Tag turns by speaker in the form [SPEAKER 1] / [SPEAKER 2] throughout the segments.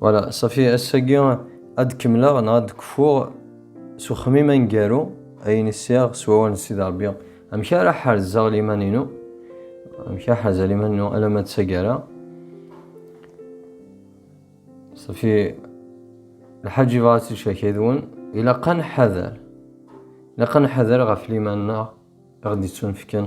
[SPEAKER 1] Voilà, safi ass-agi ad kemmleɣ neɣ ad kfuɣ s uxemmim aneggaru ayen i sɛiɣ s wawal n Sidi Ṛebbi. Amek ara ḥerzeɣ liman-inu? Amek ara ḥerzeɣ liman-inu alamma d taggara? Safi lḥaǧ yebɣa ad tt-id-cerkeɣ yid-wen, ilaq ad nḥader. Ilaq ad nḥader ɣef liman-nneɣ i ɣ-d-yettunefken.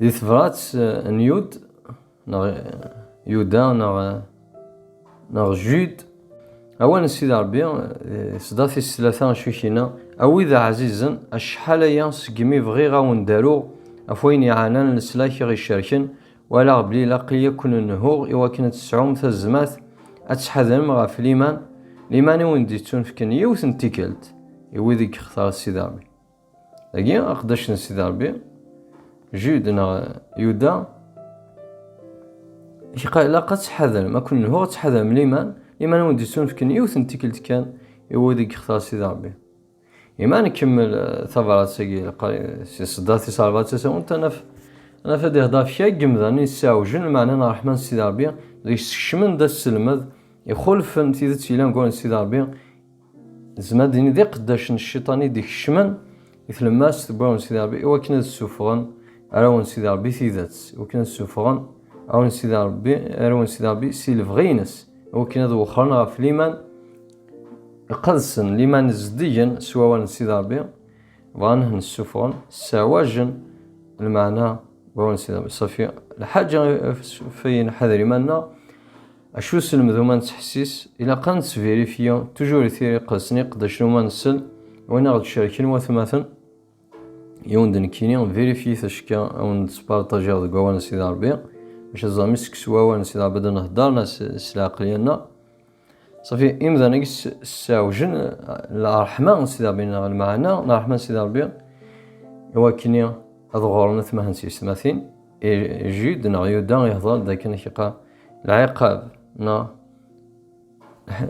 [SPEAKER 1] Di tebrat eh, n Yud, neɣ eh, Yuda, neɣ, eh, neɣ Jude, awal n Sidi Rebbi, sdat is tlata acikina, a wid ɛzizen, acḥal aya segmi bɣiɣ a wen-daruɣ, af wayen iɛanan leslak i ɣ-icerken, walaɣ belli ilaq-iyi a ken-nhuɣ i wakken ad tesɛum tazmat, ad tḥadrem ɣef liman, liman i wen-d-yettunefken yiwet n tikkelt, i wid i yextar Sidi Rebbi. Dagi aqeddac n Sidi Ṛebbi Jude neɣ Yuda ilaq ad tḥadrem akk n ad tḥadrem liman liman wen d-yessunefken yiwet n tikkelt kan i wid i yextar Sidi Ṛebbi Iman ikemmel eh, tabrat-agi si ṣeddat tis ṛebɛa d tasawent ad naf ad naf ad ihder ɣef kra n yemdanen yesɛewjen lmeɛna n ṛṛeḥma n Sidi Ṛebbi deg-s skecmen-d aselmed ixulfen tidet yellan ɣur-n Sidi Ṛebbi Nezmer ad d-nini d iqeddac n cciṭan i d-ikecmen i tlemmast n wawal n Sidi Ṛebbi i wakken ad ssufɣen arraw n Sidi Ṛebbi tidet, i wakken ad ssufɣen arraw n Sidi Ṛebbi, arraw n Sidi Ṛebbi si lebɣi-ines, i wakken ad wexren ɣef liman iqedsen, liman zeddigen s wawal n Sidi Ṛebbi, bɣan ad nessufɣen, sseɛwajen lmeɛna n wawal n Sidi Ṛebbi. Ṣṣefi, lḥaǧa ɣef ay nḥader iman-nneɣ, Acu selmdu ma nettḥessis, ilaq ad nettvirifiye tujur i tiri qedsen iqeddacen uma nsel win aɣ-d cerken watmaten, yiwen d nekkini, vérifiez acekka a wen d spartajiɣ deg wawal n Sidi Rebbi, maca tẓam mi sseksu wawal n Sidi Rebbi d nhedder na s leɛqel yerna safi imdan agi sseɛwjen lrḥma n Sidi Rebbi neɣ lmeɛna n rḥma n Sidi Rebbi i wakken ad ɣuren atmaten s yesmatin. Jude neɣ Yuda ihḍer-d akken iqa lɛiqab neɣ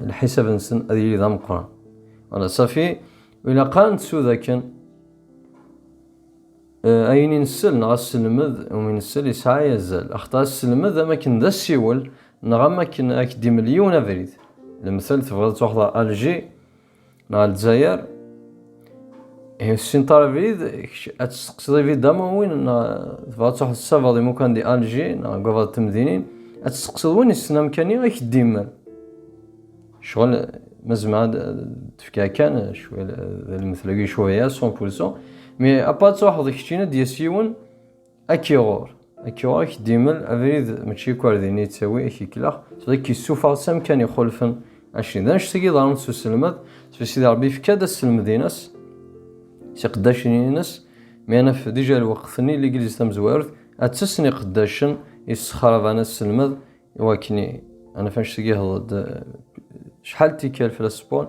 [SPEAKER 1] lḥisab-nsen ad yili d ameqqran. Ala safi, ilaq ad nettu d akken eh, ayen i nsel neɣ asselmed umi nsel yesɛa azal. Axaṭer asselmed am akken d asiwel neɣ am akken ak-d-imel yiwen abrid. Lemtel tebɣiḍ ad twaxdeḍ Alger, neɣ Lezzayer, ihi tessinṭar abrid, kečč ad testeqsiḍ ibid am win neɣ tebɣa ad truḥeḍ tessabeḍ imukan di Alji neɣ deg wabad temdinin, ad testeqsiḍ win yessen amkan-i ad k-d-imel. Ccɣel ma zemreɣ ad d-fkeɣ kan cwiya d lmetla-agi cwiya, son pour son, mi apa ad truḥeḍ keččin ad d-yas yiwen, Akiɣur. Akiɣur ak d-imel abrid mačči akk ar din yettawi ak iklex, s ad k-issufeɣ s amkan ixulfen. Aci, d annect-a i yeḍran s uselmed, sbi Sidi Rebbi yefka-d aselmed-ines s iqeddacen-ines, mi ad naf dija lweqt-nni ligliz tamezwarut ad ttess n iqeddacen yessexraban aselmed, i wakken ad naf annect-agi ihḍer-d acḥal tikkal fell-as Paul,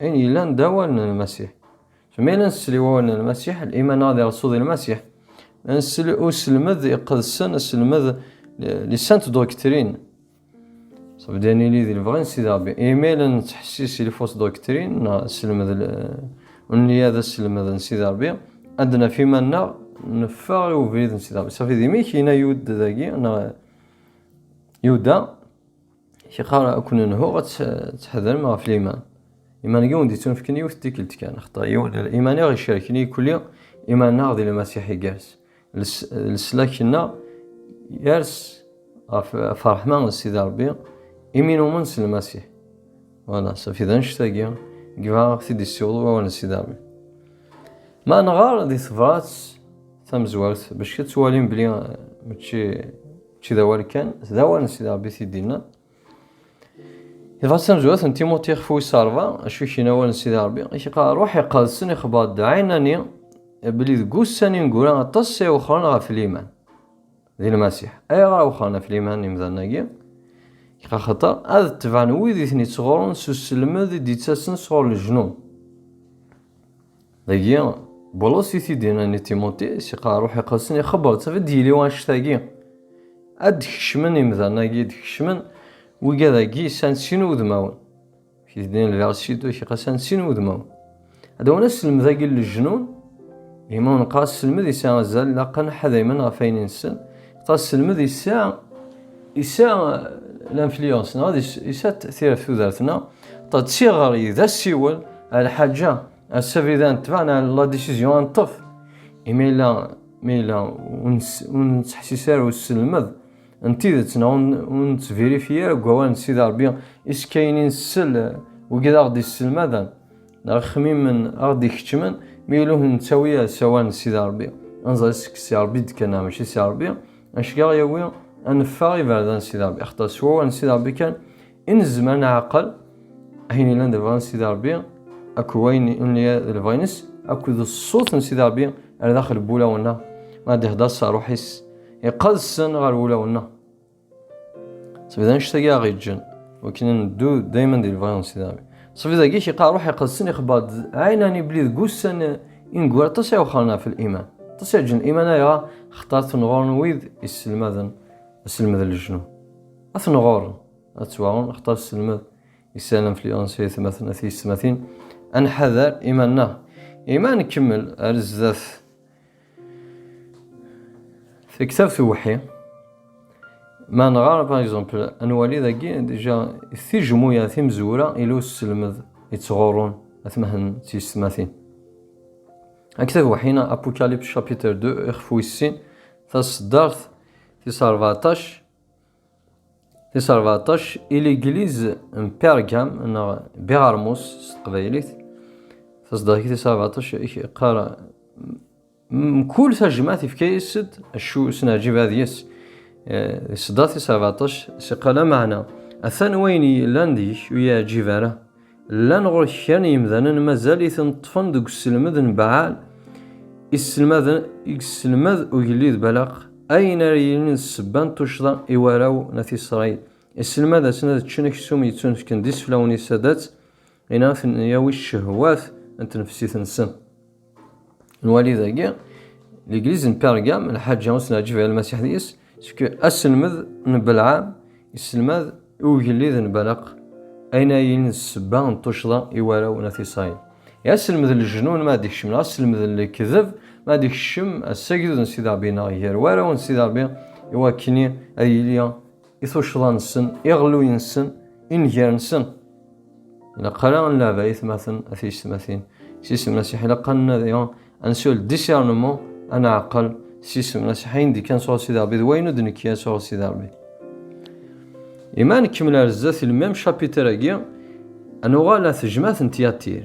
[SPEAKER 1] Ayen yellan d awal n Lmasiḥ. So mi ara nsel i wawal n Lmasiḥ, liman-a di Rrṣul di Lmasiḥ, ad nsel i uselmed iqedsen, aselmed li sainte doctrine. So bdi ad nili di lebɣi n Sidi Rebbi. Imi ara nettḥessis i lfausse doctrine, neɣ selmed ur nelli ara d aselmed n Sidi Rebbi, ad naf iman-nneɣ neffeɣ i ubrid n Sidi Rebbi. Safi d imi kina Yude dagi, neɣ Yuda, Kiqar ad ken-nhuɣ ad tḥedrem ɣef liman. Iman-agi ur d-ittunefken yiwet n tikkelt kan, axaṭer yiwen n iman i ɣ-icerken yekuli iman-nneɣ di Lmasiḥ igerrez leslak-nneɣ yers ɣef ṛṛeḥma n Sidi Ṛebbi imi numen s Lmasiḥ. Wala, safi d annect-agi i yebɣa ad ɣ-t-id-yessiweḍ wawal n Sidi Ṛebbi. Ma nɣer di tebṛat tamezwart, becc ad twalim belli mačči Mačči d awal kan, d awanes i d Rebbi t-id-inna. Dɣa d tamezwarut n Timuṭi ixef wis rrba, acu i k-inna awal n Sidi Rebbi? I k-iqqar rruḥ iqedsen ixebber-d ɛinani belli deg ussan i neggra aṭas ay wexren ɣef liman di Lmasiḥ. Ayɣer a wexren ɣef liman imdanen-agi? Axaṭer ad tebɛen wid i ten-ittɣurrun s uselmed i d-ittasen sɣur leǧnun. Dagi, Bulus i t-id-yennan i Timuti, si qeɛɛa Ṛuḥ Iqedsen, ixebber-tt, ad d-yili wanect-agi, ad d-kecmen imdanen-agi, d-kecmen wigad-agi s ansin wudmawen, ak id-yenna le verset deux, ak-iqas ansin wudmawen, ad awen asselmed-agi n lejnun, imi ur neqqar asselmed yesɛa azal, ilaqen ḥadaymen ɣef ayen inessen, neqqar asselmed yesɛa, yesɛa l'influence, neɣ yesɛa tireft tudert-nneɣ, ṭṭ d tiɣri, d asiwel, a lḥaǧa. Ass-a bida netbeɛ la décision ad neṭṭef imi yella ma yella ur nettḥessis ara ur nesselmed n tidet neɣ ur nettvérifi ara deg wawal n Sidi Ṛebbi iskayen i nsell wigi d aɣ-d-isselmaden neɣ ixemmimen aɣ-d-ikeččmen mi yella ur nettawi ara s awal n Sidi Ṛebbi ad nẓer seg Si Ṛebbi d-kan neɣ mačči Si Ṛebbi acu i aɣ-yawi ad neffeɣ iberdan n Sidi Ṛebbi axaṭer s wawal n Sidi Ṛebbi kan I nezmer ad nɛaqel ayen yellan d lebɣi n Sidi Rebbi akked wayen yellan d lebɣi-ines akked ṣṣut n Sidi Rebbi ar daxel n wulawen-nneɣ, ma ad d-ihder s rruḥ-is iqedsen ɣer wulawen-nneɣ. Seg d annect-agi ara ɣ-yeǧǧen wakken ad neddu dayman di lebɣi n Sidi Rebbi. Seg d agi k-yeqqar rruḥ iqedsen ixebber-d ɛinani belli deg wussan i neggul aṭas i wexren ɣef liman, aṭas i aǧǧen liman ayɣer? Axaṭer tenɣuren wid yesselmaden aselmed n lejnun. Ad ten-ɣuren, ad ttwaɣuren, axaṭer sselmed isal influence i tmaten a tiyessetmatin, ad nḥader iman-nneɣ. Imi ad nkemmel ar zdat taktabt uwḥi, ma nɣar, par exemple, ad nwali dagi, déjà, tijmuya timezwura ila usselmed yettɣurrun atmaten d tiyessetmatin. Aktav uwḥi neɣ Apocalypse chapitre 2 ixef wis sin taṣeddart tis ṛebɛṭac, Tis rbaṭac, Iligliz n Pergam neɣ Biɣermus s teqbaylit, taṣeddart tis rbaṭac iqqar mkul tajmaɛt ifka-yas-d acu sneɛǧib ad yes. Taṣeddart tis rbaṭac s iqqar lameɛna atan wayen yellan deg-k ur yi-yeɛǧib ara. Llan ɣur-k kra n yemdanen mazal i ten ṭṭfen deg uselmed n Baɛal, i sselmaden, i yesselmed ugellid Balaq ayen ara yilin d ssebba n tuccḍa i warraw n At Isṛayil. Isselmad-asen ad ččen aksum yettunefken d iseflawen-is ad-tt in a ten-yawi ccehwat n tnefsit-nsen. Nwali dagi, l'église n Pergam, lḥaǧa ur s-neɛǧib i Lmasiḥ deg-s, seg aselmed n Belɛam, yesselmad i ugellid n Balaq, ayen ayin d ssebba n tuccḍa i warraw n At Isṛayil. I aselmed n leǧnun ma ad d-ikcem, neɣ aselmed n lekdeb ma ad d-ikcem, ass agdud n Sidi Ṛebbi-nneɣ gar warraw n Sidi Ṛebbi, iwakken ad yili i tuccḍa-nsen, iɣelluyen-nsen, inger-nsen. Ilaq ara ad nleɛb ayetmaten a tiyesmatin. S isem Masiḥ ilaq ad nnadi, ad nsul discernement, ad nɛeqqel s isem Masiḥ ayen d-ikkan sɣur Sidi Rebbi d wayen ur d-nekki ara sɣur Sidi Rebbi. Ima ad nekmel ar zdat ilmem chapitre-agi, ad nuɣal at jmaat n Tyatir.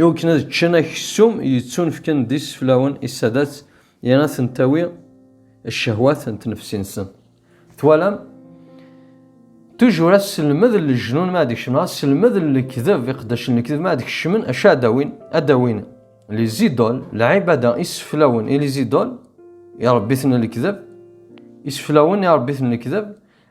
[SPEAKER 1] Iwakken ad ččen aksum yettunefken d iseflawen i Sadat i ad ten-tawi ccehwat n tnefsi-nsen. Twalam? Tujur aselmed n lejnun mi ad kecmen, aselmed n lekdeb, iqeddacen n lekdeb mi ad kecmen, acu ad awin? Ad awin les idoles, lɛibada, iseflawen i les idoles, irebbiten n lekdeb, iseflawen irebbiten n lekdeb,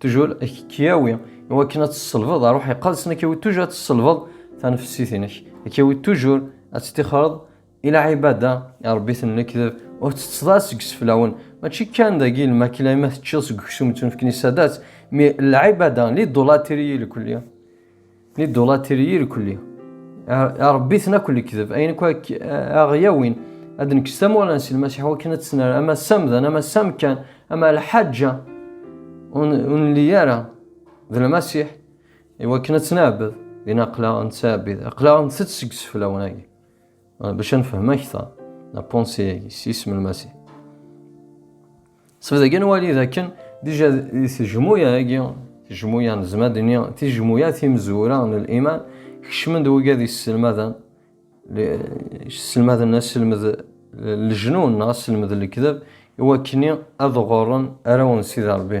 [SPEAKER 1] Tujur ad k-yawi i wakken ad tselbeḍ ar uḥiqa ad sen ak-yawi tujur ad tselbeḍ tanefsit-inek. Ak-yawi tujur ad ttixreḍ i lɛibada i Rebbi ten lekdeb ur ttetteḍ ara seg iseflawen. Mačči kan dagi lmakla ima teččiḍ seg uksum ttunefken i ssadat, mi lɛibada lidulatiriyilkulli. Ni dolatiri irkuli. Ṛebbiten akk lekdeb, ayen akk aɣ-yawin. Ad nekkes tamura n silmasiḥ wakken ad tesner ama samdan ama samkan ama lḥaǧa ur nelli ara d lmasiḥ iwakken ad tt-nɛebbed din aqlaɣ nettɛebbid aqlaɣ ntett seg seflawen-agi bac ad nefhem akteṛ la ponse-agi s isem lmasiḥ. Sebdagi nwali d akken dija di tejmuya-agi, tejmuya nezmer ad nini tijmuya timezwura n liman, kecmen-d wigad yesselmaden sselmaden aselmed lejnun neɣ aselmed lekdeb iwakken ad ɣurren arraw n Sidi Rebbi.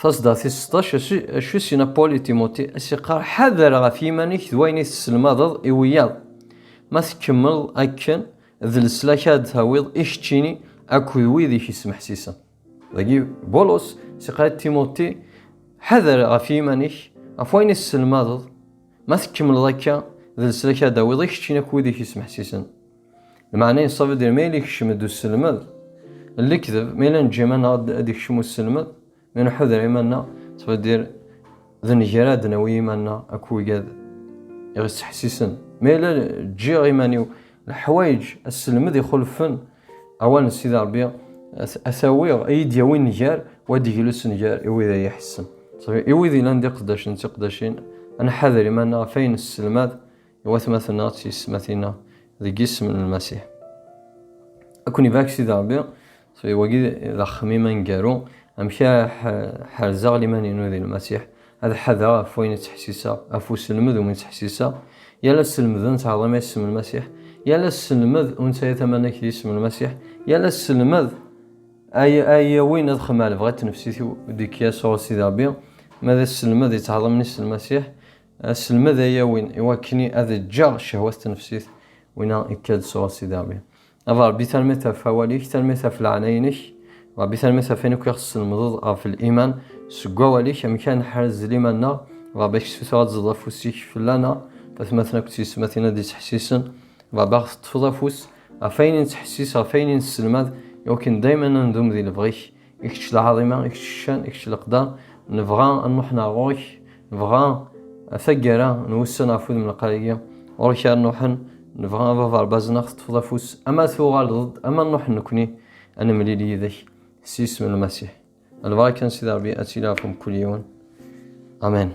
[SPEAKER 1] Tasedda tis seṭṭac, acu i s-yenna Paul i Timoti? A s-yeqqar, ḥader ɣef yiman-ik d wayen i tesselmadeḍ i wiyaḍ. Ma tkemmleḍ akken, d leslak ara d-tawiḍ i keččini akked wid i k-yesmeḥsisen. Dagi, Bulus s-yeqqar i Timoti, ḥader ɣef yiman-ik, ɣef wayen i tesselmadeḍ. Ma tkemmleḍ akka, d leslak ara d-tawiḍ i keččini akked wid i k-yesmeḥsisen. Lmeɛna yeṣṣab ad d-yerr ma yella ikcem-d uselmed, lekdeb, ma yella neǧǧa iman-nneɣ ad d-ikcem uselmed, ma nḥuder iman-nneɣ, ţfa d-yerr d nnger ad d-nawi iman-nneɣ akk wigad i ɣ-iţeḥsisen, ma yella ǧǧiɣ iman-iw leḥwayeǧ aselmed ixulfen awal n Sidi Ṛebbi a t-awiɣ, a yi-d-yawi nnger, wa ad d-iglu s nnger i wid a yi-iḥessen. I wid yellan d iqeddacen d tiqeddacin, a nḥader iman-nneɣ ɣef ayen nesselmad I watmaten-a d tiyesmatin-a, deg yisem n Lmasiḥ, ad ken-ibarek Sidi Ṛebbi. So iwagi d axmim aneggaru, amek ara ḥerzeɣ liman-inu di Lmasiḥ, ad ḥadreɣ ɣef wayen i ttḥessiseɣ, ɣef uselmed umi ttḥessiseɣ. Yal aselmed ur nettɛaḍi ma yisem n Lmasiḥ, yal aselmed ur nettaya tamanak di yisem n Lmasiḥ, yal aselmed ay ay yawin ad xemmemeɣ lebɣi n tnefsit-iw deg Yasuɛ Sidi Ṛebbi, ma d aselmed yettɛaḍi mmi-s n Lmasiḥ, Aselmed ay yawin i wakken ad ǧǧeɣ cehwa s tnefsit, wina ikka-d sɣur Sidi Ṛebbi. Ad Ṛebbi tanemmirt ɣef awal-ik, tanemmirt ɣef leɛnaya-inek, Ṛebbi tanemmirt ɣef wayen akk i ɣ-tesselmedeḍ ɣef liman, seg wawal-ik, amek ara neḥrez liman-nneɣ, Ṛebbi ad k-ssutreɣ ad tzeḍ afus-ik fell-aneɣ, ɣef atmaten akked tyesmatin ad d-ittḥessisen, Ṛebbi ad ɣ-teṭṭfeḍ afus ɣef wayen i nettḥessis, ɣef wayen i nesselmad, i wakken dayem ad nendum di lebɣi-k. I kečč lɛaḍima, i kečč ccan, i kečč leqda, nebɣa ad nruḥ neɣ ɣur-k, nebɣa taggara n wussan ɣef wudem lqayi, ɣur-k ara nruḥen, nebɣa a baba Rebaz ad aɣ-teṭṭfeḍ afus, ama tuɣaleḍ-d, ama nruḥ nekkni ad nemlil yid-k s yisem n Lmasiḥ. Lbaraka n Sidi Rebbi ad tili ɣef mkul yiwen. Amen.